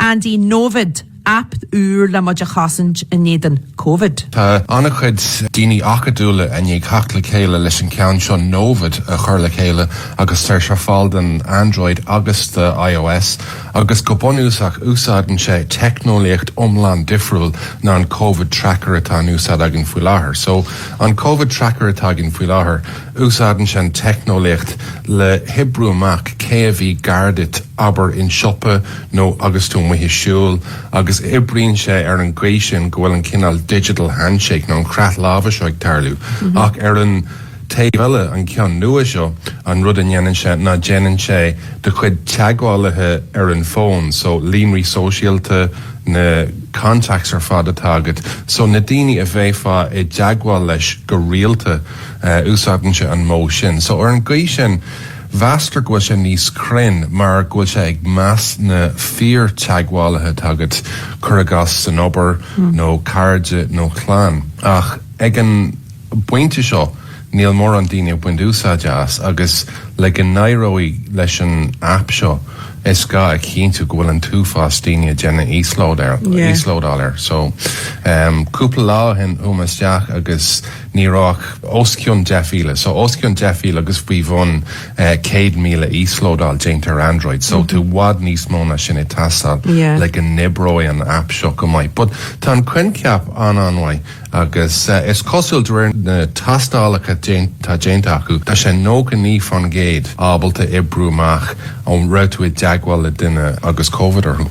An dtig Novid, aip úr le muid a chosaint in éadan Covid. Tá an-chuid daoine acadúla i ndiaidh theacht le chéile leis an ceann seo Novid a chur le chéile agus tá sé ar fáil don Android agus do ios agus go bunúsach úsáideann sé teicneolaíocht iomlán difriúil ná an Covid Tracker atá in úsáid againn faoi láthair. So an Covid Tracker atá againn faoi láthair úsáideann sé an teicneolaíocht le hoibriú amach cé a bhí gar duit abair i siopa, nó agus tú amuigh ag siúl, agus oibríonn sé ar an gcaoi sin go bhfuil an cineál digital handshake nó an croitheadh láimhe seo ag tarlú, ach ar an taobh eile, an ceann nua seo, an rud a dhéanann sé ná déanann sé do chuid teagmhálaithe ar an bhfón, so líonraí sóisialta, na contacts ar fad atá agat, so na daoine a bheifeá i dteagmháil leis go rialta, úsáideann sé an modh sin. So ar an gcaoi sin. Meastar go bhfuil sé níos cruinn mar go bhfuil sé ag meas na fíortheagmhálaithe atá agat, cuir i gcás san obair nó cairde nó chlann. Ach ag an bpointe seo níl mórán daoine ag baint úsáide as agus le go n-éireoidh leis an aip seo is gá a chinntiú go bhfuil an t-uafás daoine ag déanamh íoslódáil air. So cúpla lá ó shin chuaigh mé isteach agus Ní raibh ach os cionn 10,000, so os cionn 10,000 agus faoi bhun 100,000 íoslódáil déanta ar Android, so tá i bhfad níos mó ná sin ag teastáil le go n-oibreoidh an aip seo go maith. But tá an coincheap an-an-mhaith agus is cosúil de réir na tástálacha atá déanta acu, tá sé 99 fán gcéad ábalta oibriú amach an raibh tú i dteagmháil le duine agus Covid orthu.